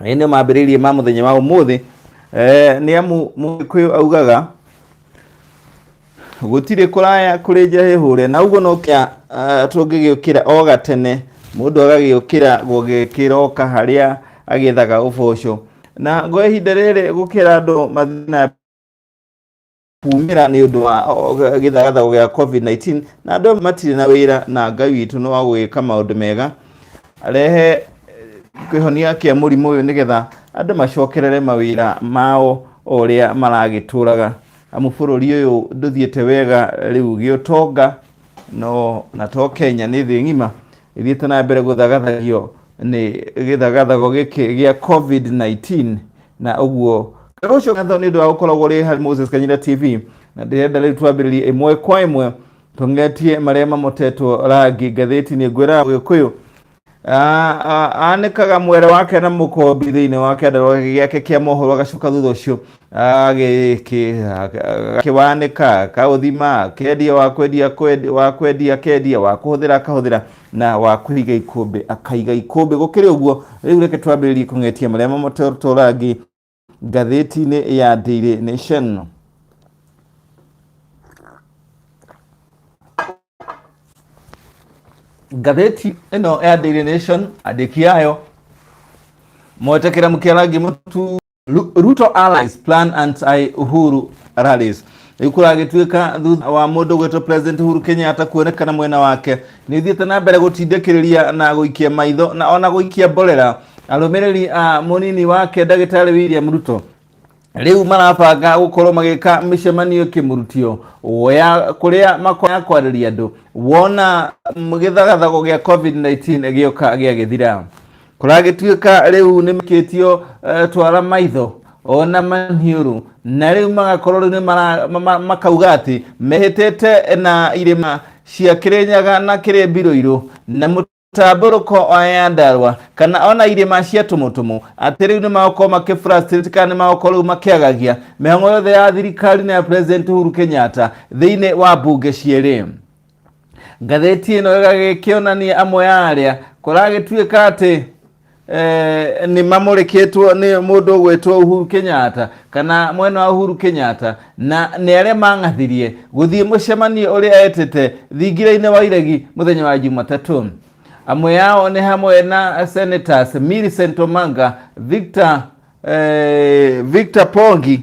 ĩ nĩ mambĩrĩirie ma mũthenya wa ũmũthĩ eh, nĩ amu mũgĩkũyũ augaga gũtirĩ kũraya kũrĩ njahĩhũre na ũguo no kĩa uh, tũngĩgĩũkĩra o gatene mũndũ agagĩũkĩra gũgĩkĩra oka harĩa agĩethaga ũboco na gwa ihinda rĩrĩ gũkĩra andũ mathiĩ na kuumĩra nĩ ũndũ wa gĩthagathago gĩa covid-19 na andũ matirĩ na wĩra na ngai witũ nĩ wa gũgĩka maũndũ mega rehe eh, kĩhonia kĩa mũrimũ ũyũ nĩgetha andũ macokerere mawĩra mao o ũrĩa maragĩtũraga amu bũrũri ũyũ ndũthiĩte wega rĩu gĩũtonga no na to kenya nĩ thĩ ng'ima ĩthiĩte na mbere gũthagathagio nĩ gĩthagathago gĩkĩ gĩa covid-19 na ũguo ngarũ ũcio ngatho nĩ ũndũ wa gũkoragwo rĩ harĩ moses kanyira tv na ndĩrenda rĩu twambĩrĩrie ĩmwe kwa ĩmwe tũng'etie marĩa mamotetwo rangi ngathĩti-inĩ ngwĩra gĩkũyũ anĩkaga mwere wake na mũkombi thĩinĩ wa kĩandarũa gĩake kĩa mohoro agacoka thutha ũcio agĩkĩwanĩka kaũthima kendia wa kwendia wa kwendia kendia wa kũhũthĩra akahũthĩra na wa kũiga ikũmbĩ akaiga ikũmbĩ gũkĩrĩ ũguo rĩu reke twambĩrĩrie kũng'etia marĩa mamotorangi ngathĩti-inĩ ya Daily Nation ngathĩti ĩno ya Daily Nation andĩki ayo mwetekera mũkĩarangi mũtu Ru- Ruto allies plan anti-Uhuru rallies rĩu kũragĩtuĩka thutha wa mũndũ gwĩtwo president Uhuru Kenyatta kuonekana mwena wake nĩ ũthiĩte na mbere gũtindĩkĩrĩria na gũikia maitho na ona gũikia mborera arũmĩrĩri a mũnini wake ndagĩtarĩ William Ruto rĩu marabanga gũkorwo magĩka mĩcemanio kĩmurutio ya kũrĩa makoya kwarĩria andũ wona gĩthagathago gĩa covid-19 gĩoka gĩagĩthira kũragĩtuĩka rĩu nĩ makĩtio uh, twara maitho ona maniũrũ na rĩu magakorwo rĩu nĩ mara- ma- ma- makauga atĩ mehĩtĩte na irĩma cia kĩrĩnyaga na kĩrĩ mbiroirũ na mũtambũrũko wa yandarwa kana ona irĩma cia tũmũtũmũ atĩ rĩu nĩ magokorwo makĩ frustrate kana nĩ magokorwo rĩu makĩagagia mĩhang'o yothe ya thirikari na ya president Uhuru Kenyatta thĩinĩ wa mbunge cierĩ ngathĩti ĩno ĩgagĩkĩonania amwe ya arĩa kũragĩtuĩka atĩ eh, nĩ mamũrĩkĩtwo nĩ mũndũ ũgwĩtwo Uhuru Kenyatta kana mwena wa Uhuru Kenyatta na nĩ arĩa mang'athirie gũthiĩ mũcemanio ũrĩa etĩte thingira-inĩ wa iregi mũthenya wa Jumatatũ amwe yao nĩ hamwe na senators Millicent Omanga Victor, eh, Victor Pongi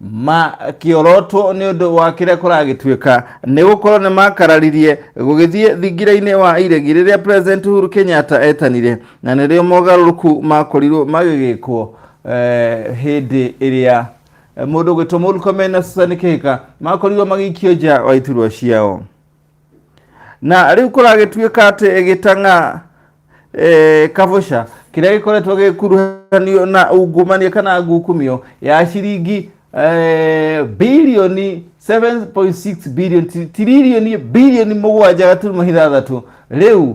ma kĩorotwo nĩ ũndũ wa kĩrĩa kũragĩtuĩka nĩ gũkorwo nĩ makararirie gũgĩthiĩ thingira-inĩ wa iregi rĩrĩa president Uhuru Kenyatta etanire na nĩrĩo mogarũrũku makorirwo magĩgĩkwo eh, hĩndĩ ĩrĩa eh, mũndũ ũgwĩtwo Murkomen na Susan Kihika makorirwo magĩikio nja wa iturwa ciao na rĩu kũragĩtuĩka atĩ gĩtang'a eh, kabũca kĩrĩa gĩkoretwo gĩkuruhanio na ungumania kana ngukumio ya ciringi eh, bilioni 7.6 bilioni tiririoni bilioni mũgwanja gaturuma ithathatũ rĩu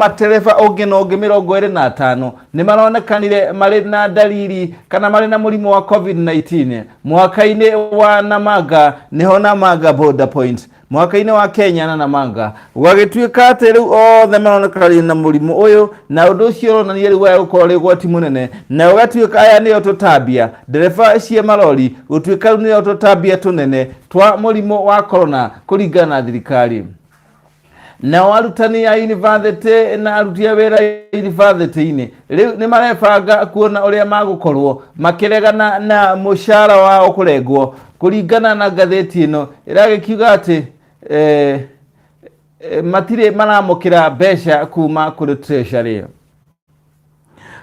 matereba ũngĩ na ũngĩ mĩrongo ĩrĩ na atano nĩ maronekanire marĩ na ndariri kana marĩ na mũrimũ wa covid-19 mwaka-inĩ wa namanga nĩho namanga border point mwaka-inĩ wa kenya na namanga gũgagĩtuĩka atĩ rĩu othe maronekanire na mũrimũ ũyũ na ũndũ ũcio ũronania rĩu waya gũkorwo rĩ ũgwati mũnene na ũgatuĩka aya nĩo tũtambia ndereba cia marori gũtuĩka rĩu nĩo tũtambia tũnene twa mũrimũ wa korona kũringana na thirikari nao arutani a yunibathĩtĩ na aruti a wĩra yunibathĩtĩ-inĩ rĩu nĩ marebanga kuona ũrĩa magũkorwo makĩregana na mũcara wao kũrengwo kũringana na ngathĩti ĩno ĩragĩkiuga atĩ eh, eh, matirĩ maramũkĩra mbeca kuma kũrĩ treasury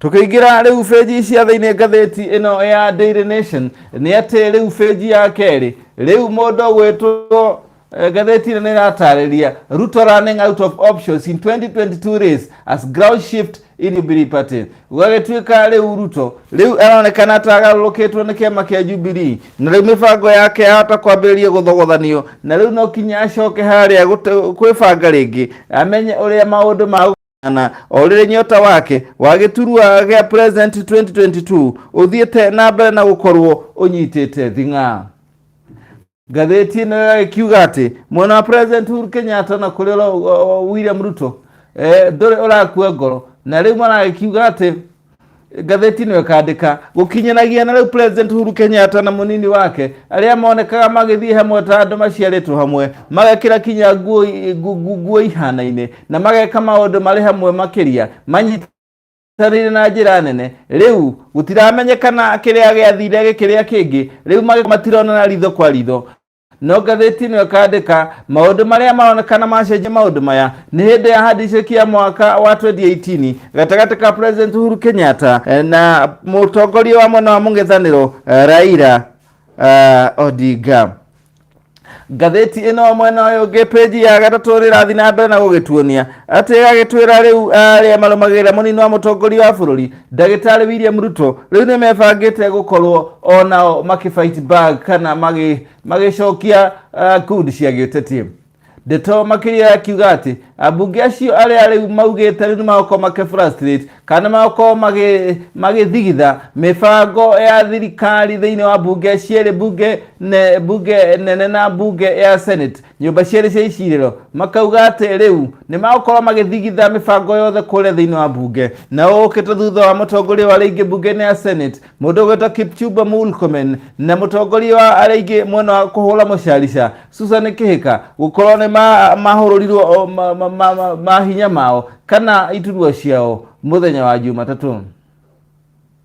Tũkĩingĩra rĩu bĩnji cia thĩinĩ ngathĩti ĩno ya Daily Nation nĩ atĩ rĩu bĩnji ya kerĩ rĩu mũndũ gwĩtwo eh, ngathĩti ĩno nĩ ĩratarĩria Ruto running out of options in 2022 race as ground shift in Jubilee Party gũgagĩtuĩka rĩu Ruto rĩu aronekana ta agarũrũkĩtwo nĩ kĩama kĩa Jubilee na rĩu mĩbango yake yahota kwambĩrĩria gũthogothanio na rĩu no kinya acoke harĩa gũte- kwĩbanga rĩngĩ amenye ũrĩa maũndũ ma na orire nyota wake wa gĩturua gĩa president 2022 ũthiĩte na mbere na gũkorwo ũnyitĩte thing'a ngathĩti ĩno ĩgagĩkiuga atĩ mwena wa president Uhuru Kenyatta na kũrĩ ũrĩa, uh, William Ruto eh, ndũrĩ ũrakua ngoro na rĩu maragĩkiuga atĩ Ngathĩti nĩyo ĩkandĩka gũkinyanagia na rĩu President Uhuru Kenyatta na mũnini wake arĩa monekaga magĩthiĩ hamwe ta andũ maciarĩtwo hamwe magekĩra kinya nguo i- ngu- ngu- nguo ihanaine na mageka maũndũ marĩ hamwe makĩria manyita tarĩrĩ na njĩra nene rĩu gũtiramenyekana kĩrĩa gĩathire gĩkĩrĩa kĩngĩ rĩu magĩ- matironana ritho kwa ritho no ngathĩti ĩno ĩkandĩka maũndũ marĩa maronekana macenjia maũndũ maya nĩ hĩndĩ ya handicĩki ya mwaka wa 2018 gatagatĩ ka president uhuru kenyatta eh, na mũtongoria wa mwena wa mũng'ethanĩro eh, raira eh, odinga ngathĩti ĩno mwena ũyũ ũngĩ peji ya gatatũ rĩrathiĩ na mbere na gũgĩtuonia atĩ ĩgagĩtwĩra rĩu arĩa marũmagĩrĩra mũnini wa mũtongoria wa bũrũri ndagĩtarĩ William Ruto rĩu nĩ mebangĩte gũkorwo o nao makĩfight back kana magĩ- magĩcokia uh, kundi cia gĩũteti ndeto makĩria yakiuga atĩ ambunge acio arĩa rĩu maugĩte rĩu nĩ magokorwo makĩ frustrate kana nĩ magokorwo magĩ- magĩthigitha mĩbango ya thirikari thĩinĩ wa mbunge cierĩ mbunge ne- mbunge nene na mbunge ya senate nyũmba cierĩ cia icirĩro makauga atĩ rĩu nĩ magũkorwo magĩthigitha mĩbango yothe kũrĩa thĩinĩ wa mbunge na ũũkĩte thutha wa mũtongoria wa arĩa aingĩ mbunge-inĩ ya senate mũndũ ũgwĩtwo kipchumba mulkomen na mũtongoria wa arĩa aingĩ mwena wa kũhũra mũcarica susan kĩhĩka gũkorwo nĩ ma- mahũrũrirwo o, ma- ma- ma- ma- mahinya mao kana iturua ciao mũthenya wa jumatatũ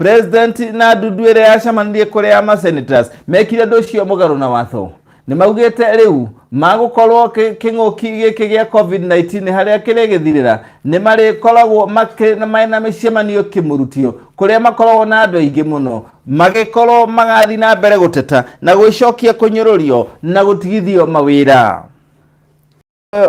president na ndundu ĩrĩa yacamanirie kũrĩ ya masenators mekire ũndũ ũcio mũgarũ na watho nĩ maugĩte rĩu magũkorwo kĩ- kĩng'ũki gĩkĩ gĩa covid-19 harĩa kĩrĩgĩthirĩra nĩ marĩkoragwo makĩ- na marĩ na mĩcemanio kĩmũrutio kũrĩa makoragwo na andũ aingĩ mũno magĩkorwo magathiĩ na mbere gũteta na gwĩcokia kũnyũrũrio na gũtigithio mawĩra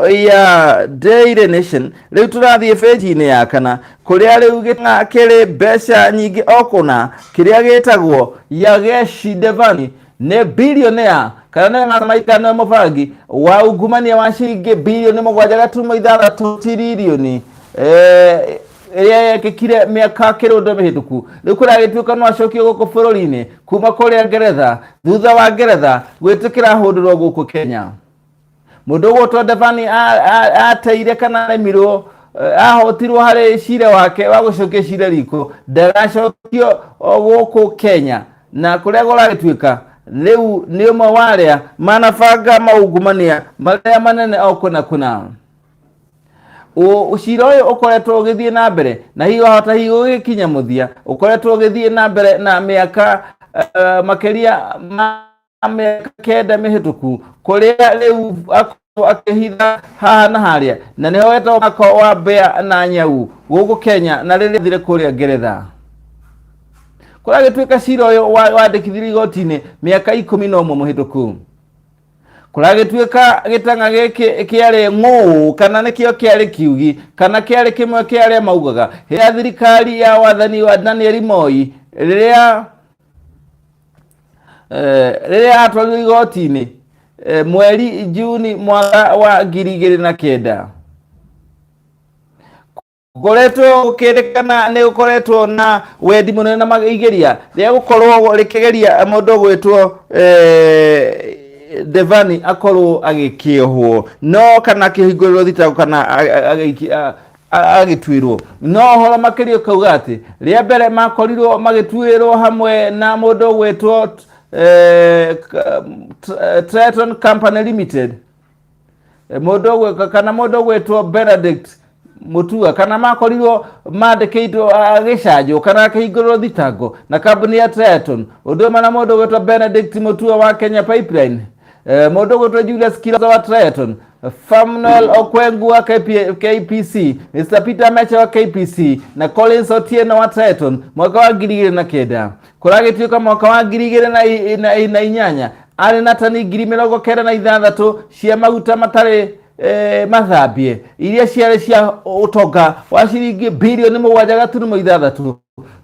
ya Daily Nation rĩu tũrathiĩ page-inĩ ya kana kũrĩa rĩu gĩtanga kĩrĩ mbeca nyingĩ o kũna kĩrĩa gĩtagwo Yageshi Devani nĩ bilionea kana nĩ ng'atamaikano ya mũbangi wa ungumania wa ciringi bilioni mũgwanja gaturumo ithathatũ tiririoni Eh, ĩrĩa yekĩkire mĩaka kĩrũndo mĩhĩtũku rĩu kũragĩtuĩka no acokio gũkũ bũrũri-inĩ kuma kũrĩa ngeretha thutha wa ngeretha gwĩtĩkĩra hũndũrwo gũkũ kenya Mũndũ ũgwĩtwo Ndevani a- a- ateire kana aremirwo eh, ahotirwo harĩ cira wake wa gũcokia cira riko ndagacokio o gũkũ Kenya na kũrĩa gũragĩtuĩka rĩu nĩ ũmwe wa arĩa manabanga maungumania marĩa manene o kũna kũna Ũ- cira ũyũ ũkoretwo ũgĩthiĩ na mbere na hihi wahota hihi gũgĩkinya mũthia ũkoretwo ũgĩthiĩ na mbere na mĩaka eh, makĩria ma na mĩaka kenda mĩhĩtũku kũrĩa rĩu akoretwo akĩhitha haha na harĩa na nĩho wetagwo mwaka wa mbea na nyau gũkũ kenya na rĩrĩa thire kũrĩa ngeretha kũrĩa agĩtuĩka cira ũyũ wa- wandĩkithirio igoti-inĩ mĩaka ikũmi na ũmwe mũhĩtũku kũrĩa gĩtuĩka gĩtanga gĩkĩ kĩarĩ ng'ũũ kana nĩkĩo kĩarĩ kiugi kana kĩarĩ kĩmwe kĩa arĩa maugaga hĩndĩ ya thirikari ya wathani wa danieli moi rĩrĩa Eh, rĩrĩa atwarirwo igoti-inĩ eh, mweri juni mwaka wa ngiri igĩrĩ na kenda ngoretwo gũkĩrĩkana nĩ gũkoretwo na wendi mũnene na maigeria rĩa gũkorwo rĩkĩgeria mũndũ gwĩtwo eh, devani akorwo agĩkĩohwo no kana kĩhingũrĩrwo thitango kana a- a- agĩiki- a- a- agĩtuĩrwo no ũhoro makĩria ũkauga atĩ rĩa mbere makorirwo magĩtuĩrwo hamwe na mũndũ ũgwĩtwo eh, K- T- Triton Company Limited Eh, mũndũ ũgwĩ- kana mũndũ ũgwĩtwo Benedict Mutua kana makorirwo mandĩkĩitwo agĩcanjwo kana akĩhingũrwo thitango na kambuni ya Triton ũndũ ũmwe na mũndũ ũgwĩtwo Benedict Mutua wa Kenya Pipeline Eh, mũndũ ũgwĩtwo Julius Kiroza wa Triton Famuel Okwengu wa KP- KPC, Mr. Peter Mecha wa KPC na Collins Otieno wa Triton mwaka wa ngiri igĩrĩ na kenda kũragĩtuĩka mwaka wa ngiri igĩrĩ na i- na i- na inyanya arĩ na tani ngiri mĩrongo kenda na ithathatũ cia maguta matarĩ eh, mathambie iria ciarĩ cia ũtonga wa ciringi bilioni mũgwanja gaturumo ithathatũ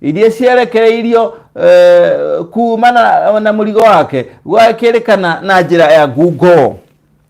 iria cierekereirio eh, kumana na mũrigo wake gwakĩrĩkana na njĩra ya ngungo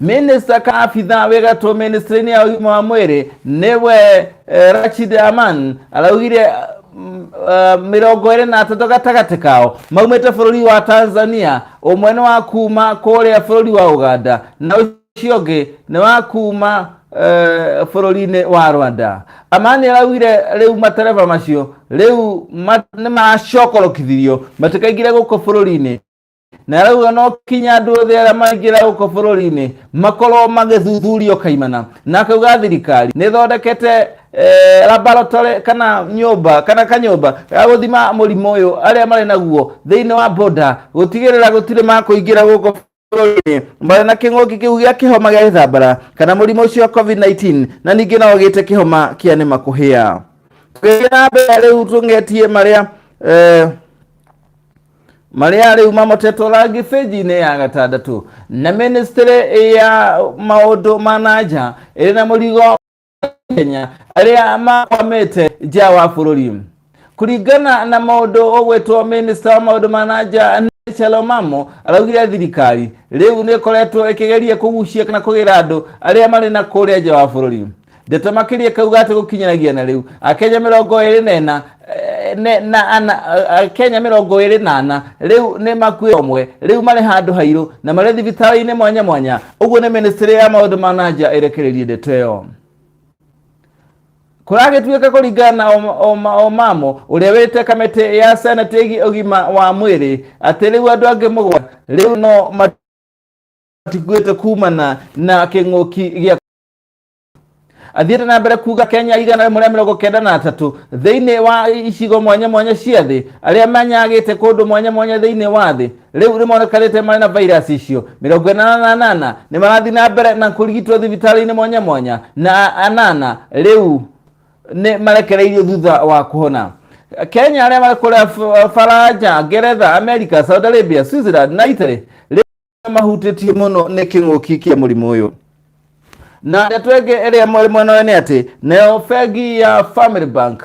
Minista ka abitha wĩ gatũ ministrini ya ũgima wa mwĩrĩ nĩwe eh, Rachid Aman araugire mm, eh, mĩrongo ĩrĩ na atatũ gatagatĩ kao maumĩte bũrũri wa Tanzania ũmwe nĩ wa kuma kũrĩa bũrũri wa Uganda na ũcio ũngĩ nĩ wa kuma eh, bũrũri-inĩ wa Rwanda Amani araugire rĩu matereba macio rĩu ma- nĩ macokorokithirio matikaingire gũkũ bũrũri-inĩ na arauga no kinya andå othe arä a maingä ra gå kå bå rå ri-inä makorwo magä thuthurio kaimana na akauga thirikari nä thondekete eh, laboratory kana nyåmba kana kanyåmba ga gå thima må rimå å yå arä a marä naguo thä inä wa boda gå tigä rä ra gå tirä ma kå ingä ra gå kå bũrũri-inĩ marĩ na kĩng'ũki kĩu gĩa kĩhoma gĩa gĩthambara kana mũrimũ ũcio wa covid-19 na ningĩ no ũgĩte kĩhoma kĩa nĩ makũhĩa tũgĩthiĩ na mbere rĩu tũng'etie marĩa eh, marĩa rĩu mamotetwo rangi bĩnji-inĩ ya gatandatũ na ministry ya maũndũ ma nanja ĩrĩ na mũrigo Kenya arĩa makwamĩte nja wa bũrũri kũringana na maũndũ ũgwĩtwo minista wa maũndũ ma nanja Rachel Omamo araugire thirikari rĩu nĩ ĩkoretwo ĩkĩgeria kũgucia kana kũgĩra andũ arĩa marĩ na kũrĩa nja wa bũrũri Ndeto makĩria kauga atĩ gũkinyanagia na rĩu akenya mĩrongo ĩrĩ na ĩna eh, ne- na ana eh, akenya mĩrongo ĩrĩ na ana rĩu nĩ makuĩ omwe rĩu marĩ handũ hairũ na marĩ thibitarĩ-inĩ mwanya mwanya ũguo nĩ ministry ya maũndũ ma na nja ĩrekereirie ndeto ĩyo kũragĩtuĩka kũringana na Om- Om- omamo ũrĩa wĩte kamĩtĩ ya senate ĩgiĩ ũgima wa mwĩrĩ atĩ rĩu andũ angĩ mũgwanja rĩu no mat- matikuĩte kumana na kĩng'ũki gĩa athiĩte na mbere kuga kenya igana rĩmwe rĩa mĩrongo kenda na atatũ thĩinĩ wa icigo mwanya mwanya cia thĩ arĩa manyagĩte kũndũ mwanya mwanya thĩinĩ wa thĩ rĩu nĩmonekanĩte marĩ na vairasi icio mĩrongo ĩnana na anana nĩ marathiĩ na mbere na kũrigitwo thibitarĩ-inĩ mwanya mwanya na anana rĩu nĩ marekereirio thutha wa kuhona kenya arĩa marĩ kũrĩa F- faranja ngeretha america saudi arabia switzerland na italy mahutĩtie mũno nĩ kĩng'ũki kĩa mũrimũ ũyũ na ndeto ĩngĩ ĩrĩa mweri mwena ũyũ nĩ atĩ nayo bengi ya family bank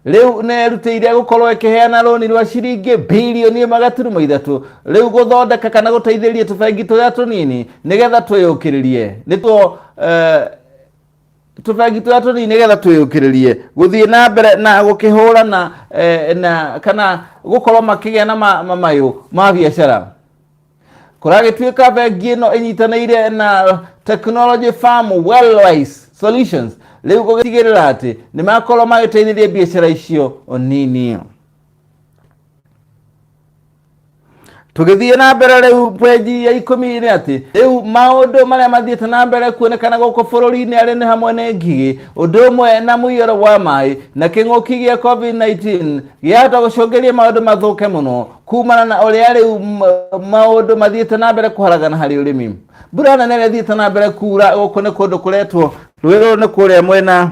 rĩu nĩrutĩire gũkorwo ĩkĩheana rũni rwa ciringi bilioni ĩmwe gaturumo ithatũ rĩu gũthondeka kana gũteithĩrĩria tũbengi tũrĩa tũnini nĩgetha twĩyũkĩrĩrie nĩtuo eh, tũbengi tũrĩa tũnini nĩgetha twĩyũkĩrĩrie gũthiĩ na mbere na gũkĩhũrana eh, na kana gũkorwo makĩgĩa na ma- ma- mayũ ma biacara kũragĩtuĩka bengi ĩno ĩnyitanĩire na technology farm wellwise solutions rĩu gũgĩtigĩrĩra atĩ nĩ makorwo magĩteithĩrĩria biacara icio nini tũgĩthiĩ na mbere rĩu peji ya ikũmi nĩ atĩ rĩu maũndũ marĩa mathiĩte na mbere kuonekana gũkũ bũrũri-inĩ arĩ nĩ hamwe nĩ ngigĩ ũndũ ũmwe na mũiyũro wa maĩ na kĩng'ũki gĩa covid-19 gĩahota gũcũngĩria maũndũ mathũke mũno kumana na ũrĩa rĩu m- maũndũ mathiĩte na mbere kũharagana harĩ ũrĩmi mbura nene ĩrĩa ĩthiĩte na mbere kuura gũkũ nĩ kũndũ kũretwo rũĩ rũrũ nĩ kũrĩa mwena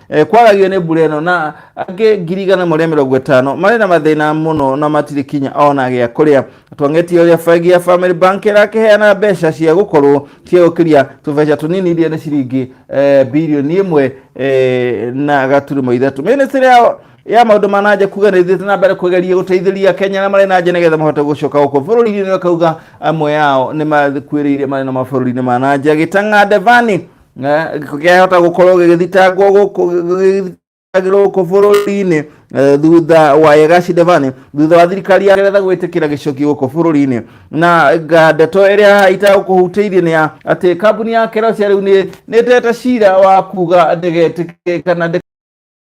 Eh, kwaragio nĩ mbura ĩno na angĩ ngiri igana marĩa mĩrongo ĩtano marĩ na mathĩna mũno na matirĩ kinya ona gĩa kũrĩa twangetie ũrĩa bengi ya family bank ĩrakĩheana mbeca cia gũkorwo cia gũkĩria tũbeca tũnini iria nĩ ciringi eh, birioni ĩmwe eh, na gaturimo ithatũ mĩnĩstĩrĩ ya ya maũndũ ma nanja kuga nĩ thiĩte na mbere kũgeria gũteithĩria akenya na marĩ nanja nĩgetha mahote gũcoka gũkũ bũrũri-inĩ akauga amwe yao nĩ makuĩrĩire marĩ na mabũrũri-inĩ ma nanja gĩtang'a devani Eh, gĩko kĩahota gũkorwo gĩgĩthitangwo gũkũ gĩgĩthitangĩrwo gũkũ bũrũri-inĩ eh, thutha wa Yegashi Devani thutha wa thirikari ya Ngeretha gwĩtĩkĩra gĩcoki gũkũ bũrũri-inĩ na nga- ndeto ĩrĩa itagũkũhutĩirie nĩ ya atĩ kambuni ya Kerosia rĩu nĩ nĩtete cira wa kuga ndĩgetĩkĩre kana ndĩ-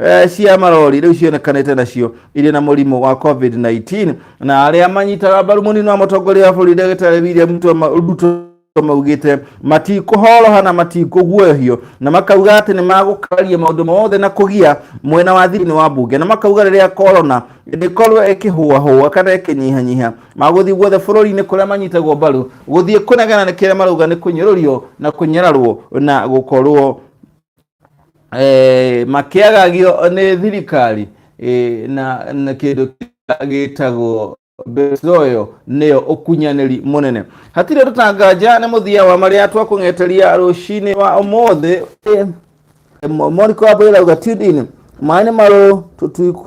Eh, cia marori rĩu cionekanĩte nacio irĩ na mũrimũ wa covid-19 na arĩa manyitaga mbaru mũnini wa mũtongoria wa bũrũri ndagĩtarĩ william Ruto ma- ruto maugĩte matikũhoroha na matikũguoyohio na makauga atĩ nĩ magũkaria maũndũ mothe na kũgia mwena wa thĩinĩ wa mbunge na makauga rĩrĩa korona ĩngĩkorwo ĩkĩhũahũa kana ĩkĩnyihanyiha magũthiĩ guothe bũrũri-inĩ kũrĩa manyitagwo mbaru gũthiĩ kũnegena nĩ kĩrĩa marauga nĩ kũnyũrũrio na kũnyararwo na gũkorwo eh, makĩagagio nĩ thirikari eh, na, na kĩndũ kĩrĩa gĩtagwo mbecoyo nĩyo ũkunyanĩri mũnene hatirĩ tũtanganja nĩ mũthia wa marĩa twakũng'eteria rũcinĩ wa ũmũthĩ eh, moriko wa mbũrĩra uga tune in maĩ nĩ marũ tũtuiku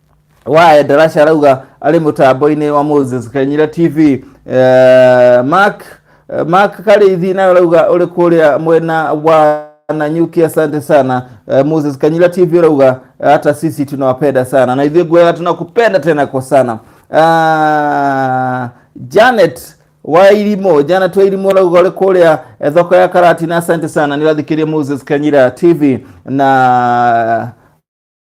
wa endarasha arauga arĩ mũtambo-inĩ wa moses kanyira tv eh, mark eh, mark karĩithi nawe arauga ũrĩ kũrĩa mwena wa nanyuki asante sana eh, moses kanyira tv arauga hata sisi tunawapenda sana na ithuĩ gwega tunakupenda tena kwa sana Ah, janet wa irimo janet wa irimo arauga ũrĩ kũrĩa eh, thoko ya karati na asante sana nĩrathikĩria moses kanyira tv na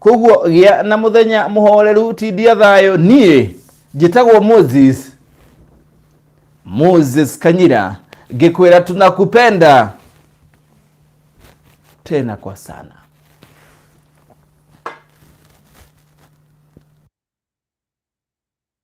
koguo gĩa na mũthenya mũhoreru tindia thayũ niĩ njĩtagwo moses moses kanyira ngĩkwĩra tunakupenda tena kwa sana